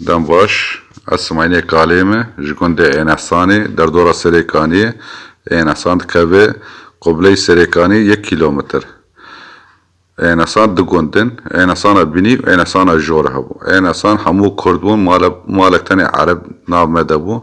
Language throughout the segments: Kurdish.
Dem baş, ez Simaynê Kalê me, ji gundê Ênehsanê, derdora Serêkaniyê, Ênehsan dikeve Qubleyê Serêkaniyê yek kîlometr. Ênehsan du gund in, Ênehsana Binî û Ênehsana Jor hebû. Ênehsan hemû kurd bûn, malek malek tenê ereb nav me de bû.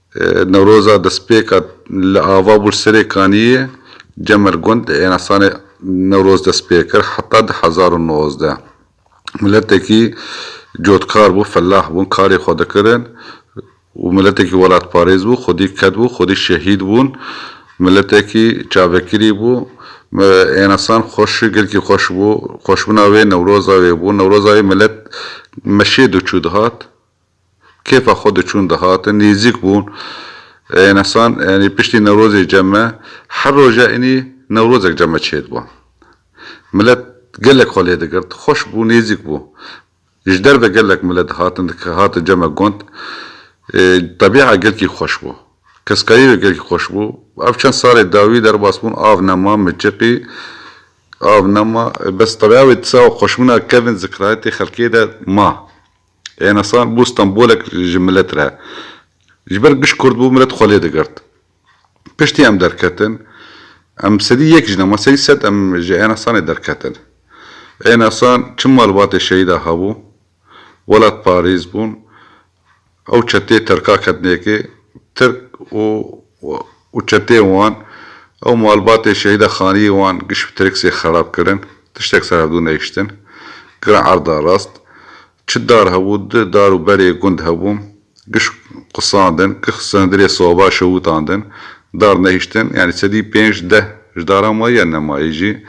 Newroza destpêka li ava Bulserê Kaniyê Cemer Gund di Ênasanê Newroz dest pê kir heta di hezar û nozdeh miletekî cotkar bû, felah bûn, karê xwe dikirin û miletekî welatparêz bû, xwedî ket bû, xwedî şehîd bûn, miletekî çavekirî bû, ênasan xweş, gelkî xweş bû, xweşbûna wê newroza wê bû, newroza wê milet meşê diçû dihat. Kêfa xwe diçûn dihatin, nêzîk bûn. Enesan yanî piştî Newrozê ceme her roja ênî Newrozek ceme çêdiba. Milet gelek xwe lê digirt, xweş bû, nêzîk bû. Ji derve gelek milet dihatin, dihatin ceme gund. Tebîa gelkî xweş bû. Keskayî wê gelkî xweş bû. Ev çend salê dawî derbas bûn, av nema, miçiqî, av nema. Bes tebîa wê di ser xweşbûna kevin zikrayetê xelkê de ma. Êna sal bû Stenbolek ji milet re. Ji ber giş kurd bû milet xwe lê digirt. Piştî em derketin. Em sedî yek jin ama sedî sed em ji êna sanê derketin. Êna san çi malbatê şehîda hebû, welat parêz bûn. Ew çeteyê tirka ketnê yekê. Tirk û. û çeteyên wan û malbatê Şehîda Xaniyê wan giş bi trêksê xerab kirin, tiştek ser hevdu nehiştin. Giran erda rast. Çi dar hebû, du dar û berê gund hebû, giş qusandin, giş hundirê soba şewitandin, dar nehiştin, yanî sedî pênc, deh ji daran ma ye, ne ma ye jî.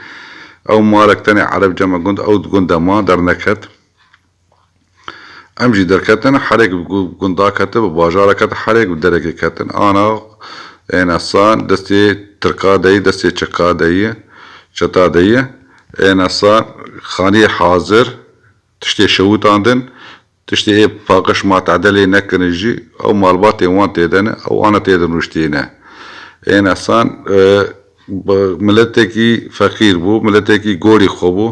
Ew malek tenê erebca me gund ew di gunde ma, derneket. Em jî derketin herêk bi gundak ketin bi bajarek ketin herêk bi derekê ketin ana êna san destê tirka deyî destê çeka deyî çeta deyî êna san xaniyê hazir tiştê şewitandin tiştê ê paqiş ma tedelê nekirin jî ew malbatên wan têde ne ew ana têde nuştîne êna san Miletekî feqîr bû, miletekî gorî xwe bû.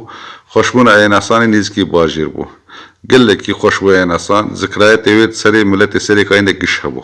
Xweşbûna Eyenasanê nêzîkî bajêr bû. Gelekî xweş bû Eyenasan. Zikrayetê wê di serê miletê Serêkayî de giş hebû.